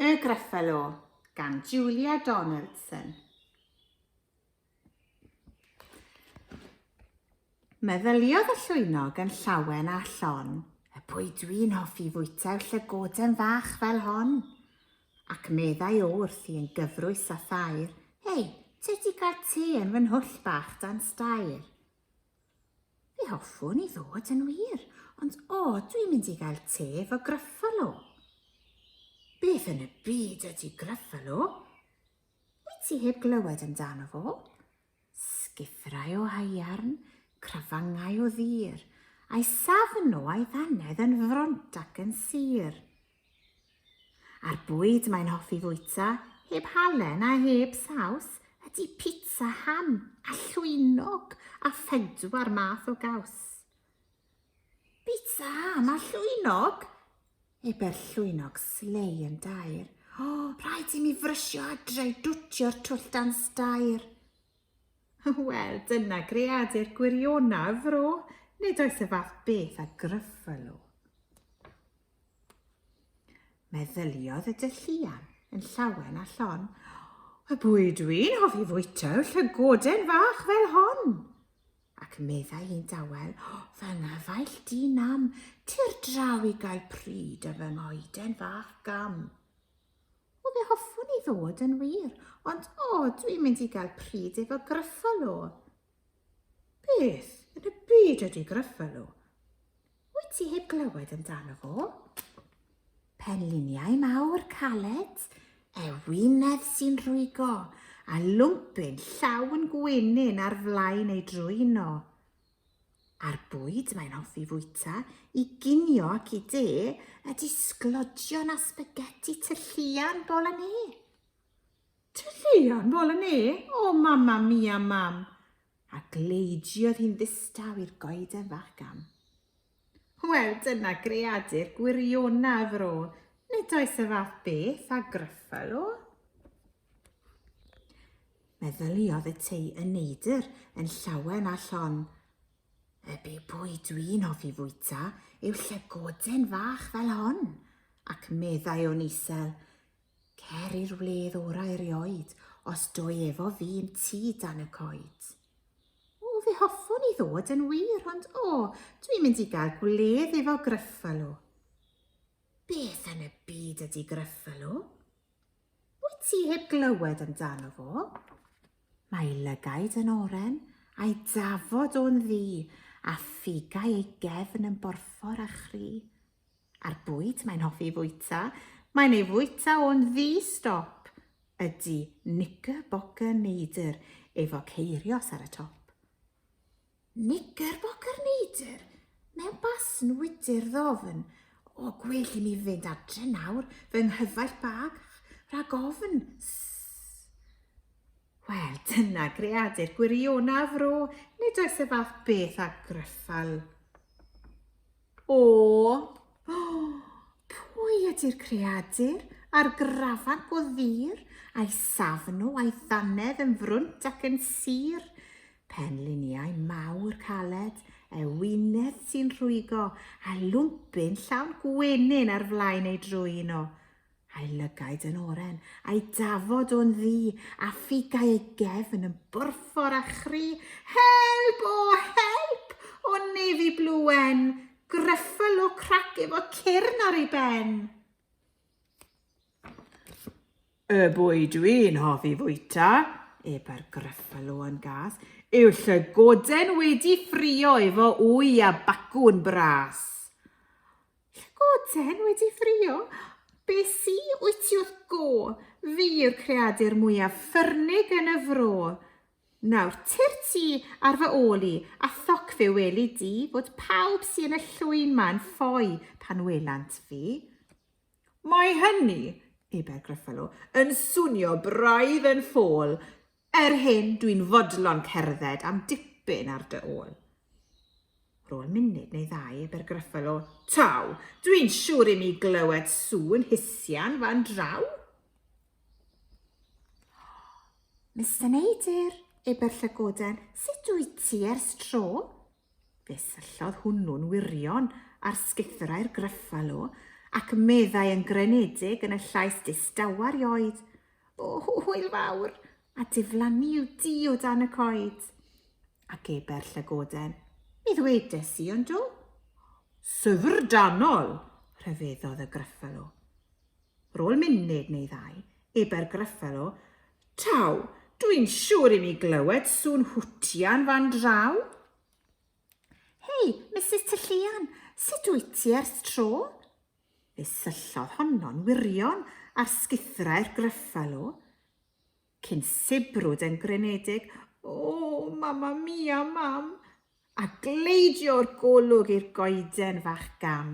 Y Gruffalo gan Julia Donaldson. Meddyliodd y llwynog yn llawen a llon, y pwy dwi'n hoffi fwyta'r llygoden fach fel hon? Ac meddai o wrthi yn gyfrwys a thair, Hei, ti wedi cael te yn fy nhwll bach dan stair. Fe hoffwn i ddod yn wir, ond o, dwi'n mynd i gael te fo Gruffalo. Beth yn y byd ydy Gruffalo? Wyt ti heb glywed amdano fo? Sgithrau o haearn, crafangau o ddur, a'i safn o a'i ddannedd yn front ac yn sur. A'r bwyd mae'n hoffi fwyta, heb halen a heb saws, ydy pitsa ham a llwynog a phedwar math o gaws. Pitsa ham a llwynog? Ebe'r llwynog slei yn dair. O, oh, rhaid i mi frysio adre i dwtio'r twll dan stair. Wel, dyna greadur gwirionaf, fro, nid oes y fath beth a gryffel o. Meddyliodd y dylluan yn llawen a llon. Y bwyd dwi'n hoffi fwyta yw llygoden fach fel hon. Ac meddai hi'n dawel, fy nghyfaill di nam, tir draw i gael pryd y fy ngoeden fach gam. O fe hoffwn i ddod yn wir, ond o, dwi'n mynd i gael pryd efo gryffol o. Beth yn y byd ydy Gruffalo? Wyt ti heb glywed amdano fo? Penliniau mawr caled, ewinedd sy'n rhwygo, a lwmpyn llawn gwenyn ar flaen ei drwyno. A'r bwyd mae'n hoffi fwyta i ginio ac i de ydy sglodion a spaghetti tylluan bol yn e. Tylluan bol yn ne, O Mamma Mia Mam! a gleidiodd hi'n ddistaw i'r goeden fach gam. Wel, dyna greadur gwiriona y fro, nid oes y fath beth a Gruffalo. Meddyliodd y tei y neidr yn llawen a llon. Y be bwy dwi'n hoffi fwyta yw llygoden fach fel hon, ac meddai o'n isel, Cer i'r wledd orau erioed, os doi efo fi yn ti dan y coed. O, fe hoffwn i ddod yn wir, ond o, dwi'n mynd i gael gwledd efo Gruffalo. Beth yn y byd ydy Gruffalo? Wyt ti heb glywed amdano fo? Mae lygaid yn oren, a'i dafod o'n ddi, a ffigau ei gefn yn borffor a chri. A'r bwyd mae'n hoffi fwyta, mae'n ei fwyta o'n ddi-stop, ydy Knickerbocker Neidr efo ceirios ar y top. Knickerbocker Neidr? Mewn basn wydr ddofn. O, gwell i mi fynd adre nawr, fy nghyfaill bach, rhag ofn. Sss. Wel, dyna greadur gwirionaf fro, nid oes y fath beth â gryffal. O! Pwy ydy'r creadur a'r grafan go ddur, a'i safn o, a'i ddannedd yn frwnt ac yn sur? Penliniau mawr caled, ewinedd sy'n rhwygo, a lwmpyn llawn gwenyn ar flaen ei drwyn o. a'i lygaid yn oren, a'i dafod o'n ddu, a ffugau ei gefn yn borffor a chri, Help, o, help, o nefi bluen, gryffel o crac efo cyrn ar ei ben. Y bwy dwi'n hoffi fwyta, eba'r gryffel o'n gas, yw llygoden wedi ffrio efo wy a bacwn bras. Llagoden wedi ffrio? Be sy wyt ti wrth go? Fi yw'r creadur mwyaf ffyrnig yn y fro. Nawr, ty'r ti ar fy ôl i, a thoc fe weli di fod pawb sy yn y llwyn ma'n ffoi pan welant fi. Mae hynny, eber Gruffalo, yn swnio braidd yn ffôl. Er hyn, dwi'n fodlon cerdded am dipyn ar dy ôl. Rôl munud neu ddau, Abergryffel o, Taw, dwi'n siŵr i mi glywed sŵn hisian fan draw. Mister Neidyr, eber llygoden, sut wyt ti ers tro? Fe syllodd hwnnw'n wirion ar sgithrau'r gryffalo ac meddai yn grynedig yn y llais distawar i oed, O, hwyl fawr! A diflannu yw di o dan y coed. A geber llygoden. Mi ddwedes i, ond do? Syfrdanol! rhyfeddodd y Gruffalo. Rôl munud neu ddau, eber Gruffalo, Taw, dwi'n siŵr i mi glywed sŵn hwtian fan draw. Hei, Mrs Tylluan, sut wyt ti ers tro? Fe syllodd honno'n wirion ar sguthrau'r Gruffalo, cyn sibrwd yn grynedig, O, Mamma Mia, Mam! a gleidio o'r golwg i'r goeden fach gam.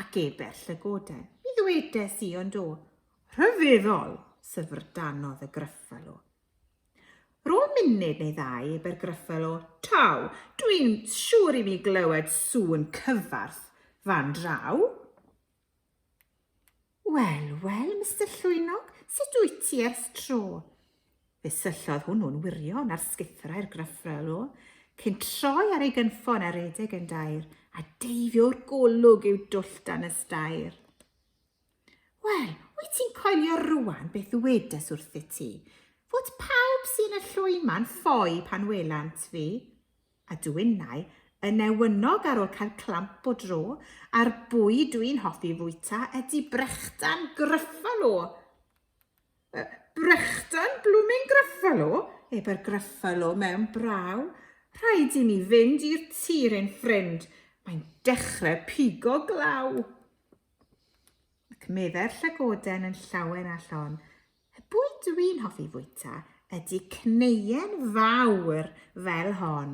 Ac ebell y goden, mi ddwedes i, ond o, rhyfeddol, syfrdanodd y Gruffalo. Rôl munud neu ddau i bergryffel o Taw, dwi'n siŵr i mi glywed sŵn cyfarth fan draw. Wel, wel, Mister Llwynog, sut wyt ti ers tro? Fe syllodd hwnnw'n wirion ar sgithrau'r gryffel o, cyn troi ar ei gynffon a redeg yn dair, a deifio'r golwg i'w dwll dan y stair. Wel, wyt ti'n coelio rwan beth ddywedes wrthyt ti? Fod pawb sy'n y llwy ma'n ffoi pan welant fi? A dw innau yn ewynog ar ôl cael clamp o dro, a'r bwyd dwi'n hoffi fwyta ydy brechdan Gruffalo. Uh, brechdan blooming Gruffalo? Ebe'r Gruffalo mewn braw. Rhaid i mi fynd i'r tir ein ffrind. Mae'n dechrau pigo glaw. Ac meddai'r llygoden yn llawen a llon, y bwyd dw i'n hoffi fwyta ydy cneuen fawr fel hon.